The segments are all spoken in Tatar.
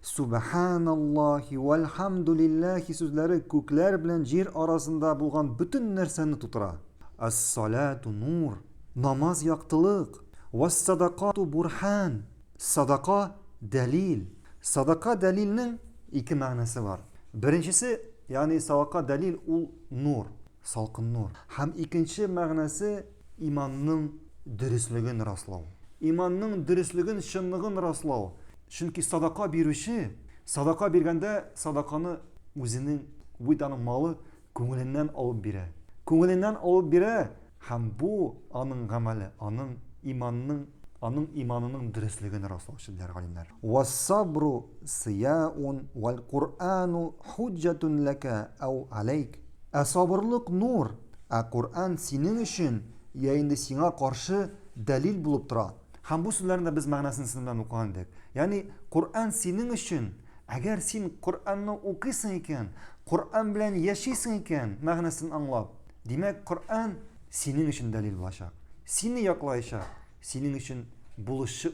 Сүбәхәналлаһи вәлхәмдүлилләһи сүзләре күкләр белән җир арасында булган бөтен нәрсәне тутыра. Ас-салату нур, намаз яктылык, вас-садакату бурһән, садака дәлил. Садака дәлилнең ике мәгънәсе бар. Беренчесе, ягъни садака дәлил ул нур, салкын нур. Һәм икенче мәгънәсе, Иманның дөреслеген раслау. Иманның дөреслеген, чынлыгын раслау. Чөнки садака бирүче, садака биргәндә, садаканы үзенең, бу бит аның малы, күңеленнән алып бирә. Күңеленнән алып бирә, һәм бу, аның гамәле, аның иманның, аның иманының дөреслеген раслаучы, диләр галимнәр. Уәс-сабру сыяун уәл-Коръәну хуҗҗәтун ләкә әү галәйк. Ә сабырлык нур, ә Коръән синең өчен йә инде сиңа каршы дәлил булып тора. Һәм бу сүзләрнең дә без мәгънәсен сезнең белән укыган идек. Ягъни, Коръән синең өчен, әгәр син Коръәнне укыйсың икән, Коръән белән яшисең икән, мәгънәсен аңлап, димәк, Коръән синең өчен дәлил булачак, сине яклаячак, синең өчен булышчы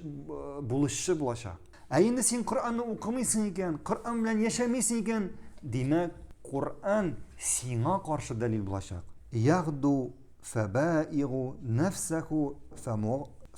булышчы булачак. Ә инде син Коръәнне укымыйсың икән, Коръән белән яшәмисең икән, димәк, Коръән сиңа каршы дәлил булачак. Ягду фәбаигу нәфсәху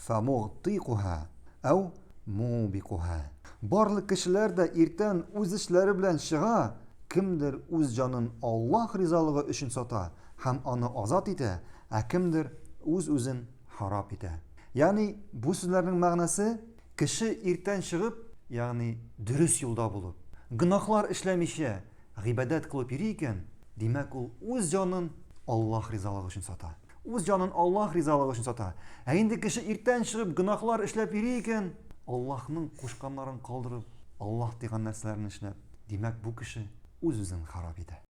фәмугътикуһа әү мубикуһа. Барлык кешеләр дә иртән үз эшләре белән чыга, кемдер үз җанын Аллаһ ризалыгы өчен сата һәм аны азат итә, ә кемдер үз-үзен харап итә. Ягъни, бу сүзләрнең мәгънәсе, Кеше иртән чыгып, ягъни дөрес юлда булып, гөнаһлар эшләмичә, гыйбадәт кылып йөри икән, димәк, ул үз җанын Аллаһ ризалыгы өчен сата. Үз җанын Аллаһ ризалыгы өчен сата. Ә инде кеше иртән чыгып, гөнаһлар эшләп йөри икән, Аллаһның кушканнарын калдырып, Аллаһ тыйган нәрсәләрне эшләп, димәк, бу кеше үз-үзен харап итә.